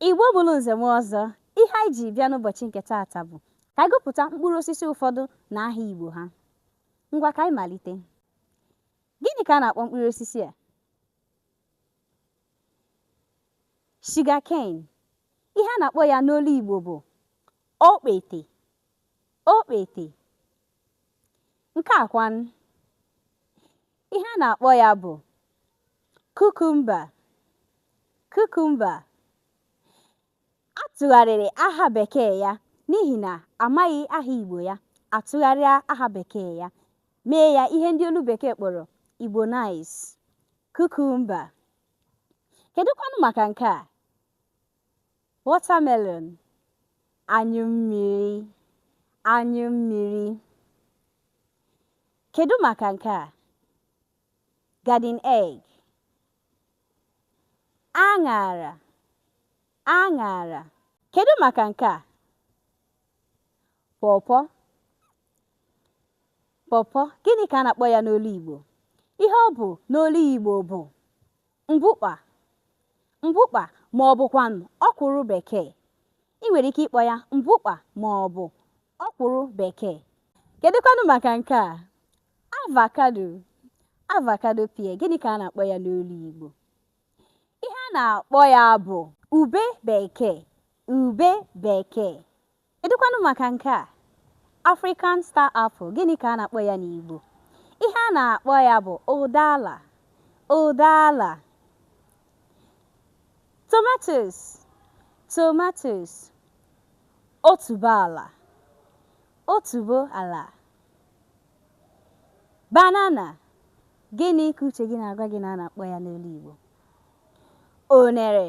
Igbo mụrụ nze mụọ ọzọ, ihe anyị ji bịa n'ụbọchị nke taata bụ ka anyị gụpụta mkpụrụ osisi ụfọdụ na aha Igbo ha. Ngwa ka anyị malite. Gịnị ka a na-akpọ mkpụrụ osisi a? Sugar cane. Ihe a na-akpọ ya n'olu Igbo bụ okpete. Okpete. Nke a kwanụ, ihe a na-akpọ ya bụ kukumba. Kukumba. A tụgharịrị aha bekee ya n'ihi na a maghị aha Igbo ya, a tụgharịa aha bekee ya, mee ya ihe ndị olu bekee kpọrọ Igbonize, kukumba. Kedụkwanụ maka nke a? Watermelon, anyụ mmiri, anyụ mmiri. Kedu maka nke a? Garden egg. Aṅara, aṅara. Kedu maka nke a? Pawpaw, pawpaw. Gịnị ka a na-akpọ ya n'olu Igbo? Ihe ọ bụ n'olu Igbo bụ Mbukpa, mbukpa ma ọ bụkwanụ ọkwụrụ Bekee. I nwere ike ịkpọ ya mbukpa ma ọ bụ ọkwụrụ Bekee. Kedụkwanụ maka nke a, avocado, avocado pear, gịnị ka a na-akpọ ya n'olu Igbo? Ihe a na-akpọ ya bụ ube Bekee, ube Bekee, Kedụkwanụ maka nke a? African star apple, gịnị ka a na-akpọ ya n'Igbo? Ihe a na-akpọ ya bụ ụdala, ụdala. Tomatoes, tomatoes. Otuboala, otuboala. Banana, gịnị ka uche gị na-agwa gị na a na-akpọ ya n'olu Igbo? Unere.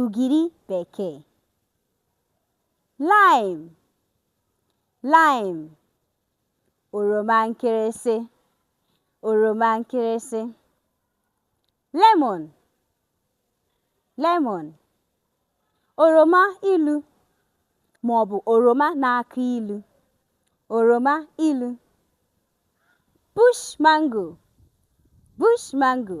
ugiri bekee lime lime oroma nkịrịsị oroma nkịrịsị lemon lemon oroma ilu ma ọ bụ oroma na-akụ ilu oroma ilu bush mango bush mango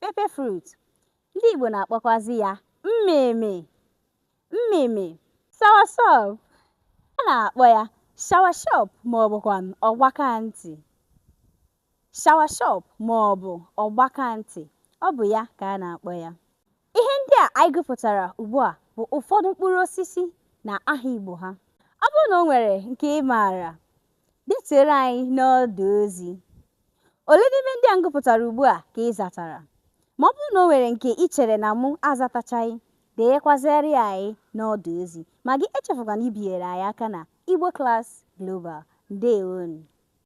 Pepper fruit. Ndị Igbo na-akpọkwazị ya mmịmị. Mmịmị. Soursop. A na-akpọ ya shawashọp maọbụkwanụ ọgbakantị. Shawashọp maọbụ ọgbakantị. Ọ bụ ya ka a na-akpọ ya. Ihe ndị a anyị gụpụtara ugbu a bụ ụfọdụ mkpụrụ osisi na aha Igbo ha. Ọ bụrụ na o nwere nke ị maara, detuere anyị n'ọdụ ozi. Ole n'ime ndị a m gụpụtara ugbu a ka ị zatara? Ma ọ bụrụ na o nwere nke i chere na mụ azatachaghị, denyekwazịara ya anyị n'ọdụ ozi. Ma gị echefukwana ibinyere anyị aka na Igbo Class Global. Ndeewonu!